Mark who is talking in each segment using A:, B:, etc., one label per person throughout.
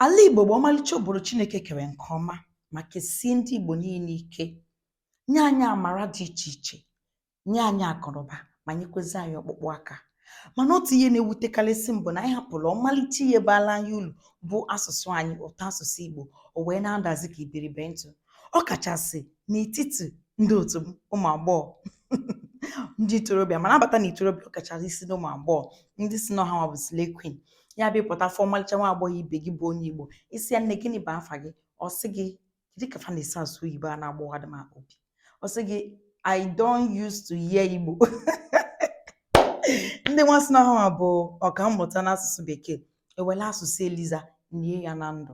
A: Ala Igbo bụ ọmalịcha obodo Chineke kere nke ọma ma kesie ndị Igbo niile ike, nye anyị amara dị iche iche, nye anyị akụnụba ma nyekwezi anyị ọkpụkpụ aka. Mana otu ihe na-ewutekarịsị m bụ na anyị hapụrụ ọmalịcha ihe baala anyị uru bụ asụsụ anyị, ụtọ asụsụ Igbo, o wee na-adazi ka iberibe ntụ, ọ kachasị n'etiti ndị otu m, ụmụ agbọghọ. ndị ntorobịa ma na-abata na ntorobịa ọ kachasị isi n'ụmụ agbọghọ ndị sị na ọ ha bụ slay queen ya bụ ị pụta fụ ọmalịcha nwa agbọghọ ibe gị bụ onye Igbo ị sị ya nne gịnị bụ afa gị ọ sị gị kedu ka fa na-esi asụ oyibo a na-agbawadị m obi ọ sị gị I don't use to hear Igbo ndị nwa sị na ọ ha bụ ọkammụta n'asụsụ bekee ewele asụsụ Eliza nie ya na ndụ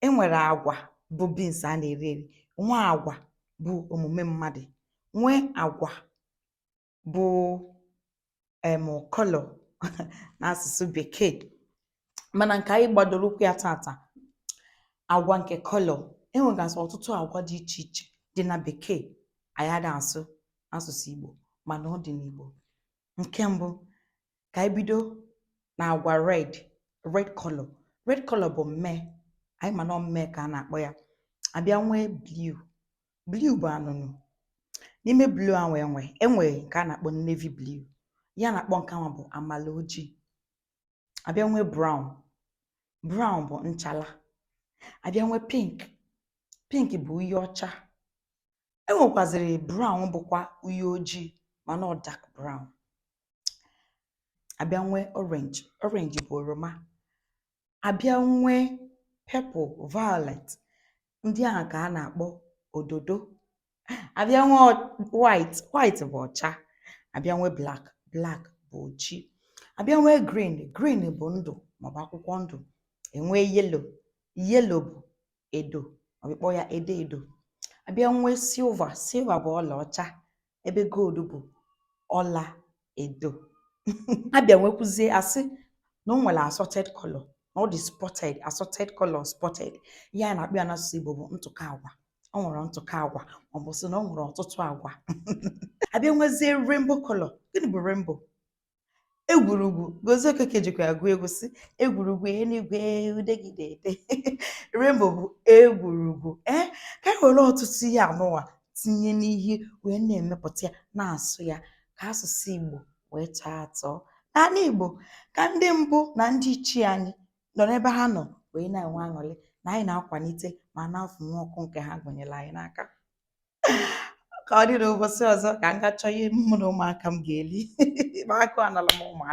A: e nwere agwa bụ beans a na-eri eri, nwee agwa bụ omume mmadụ, nwee agwa bụ um colour n'asụsụ bekee. Mana nke anyị gbadoro ụkwụ ya tata, agwa nke colour. E nwegasị ọtụtụ agwa dị iche iche dị na bekee anyị ada asụ asụsụ Igbo mana ọ dị n'Igbo. Nke mbụ, ka anyị bido na agwa red red color red color bụ mmee anyị ma na ọ mmee ka a na-akpọ ya abịa nwee blue blue bụ anụnụ n'ime blue ahụ enwe enwe nke a na-akpọ navy blue ihe a na-akpọ nke ahụ bụ amala ojii abịa nwee brown brown bụ nchala abịa nwee pink pink bụ uhie ọcha enwekwaziri brown bụkwa uhie ojii mana ọ dark brown abịa nwee orange orange bụ oroma abịa nwee purple violet ndị ahụ ka a na-akpọ ododo abịa nwee white white bụ ọcha abịa nwee black black bụ ojii abịa nwee green green bụ ndụ maọbụ akwụkwọ ndụ enwee yellow yellow bụ edo maọbụ ị kpọọ ya edo edo abịa nwee silver silver bụ ọlaọcha ebe gold bụ ọla edo abịa nwekwuzie a sị na o nwere assorted color na ọ dị spotted assorted color spotted ihe a na-akpọ ya n'asụsụ Igbo bụ ntụkọ agwa o nwere ntụkọ agwa maọbụ sị na o nwere ọtụtụ agwa abịa nwezie rainbow color gịnị bụ rainbow egwurugwu Gozie Okeke jikwa ya gụọ egwu sị egwurugwu enuigwe udegide ede Rainbow bụ egwurugwu ee ka anyị were ọtụtụ ihe a nụwa tinye n'ihe wee na-emepụta ya na-asụ ya ka asụsụ Igbo wee tọọ atọ n'ala Igbo ka ndị mbụ na ndị ichie anyị nọ n'ebe ha nọ wee na-enwe aṅụrị na anyị na-akwalite ma na-afụnwu ọkụ nke ha gụnyere anyị n'aka ka ọ dị n'ụbọchị ọzọ ka m ga chọọ ihe mụ na ụmụaka m ga-eli ma agụụ anala m ụmụaka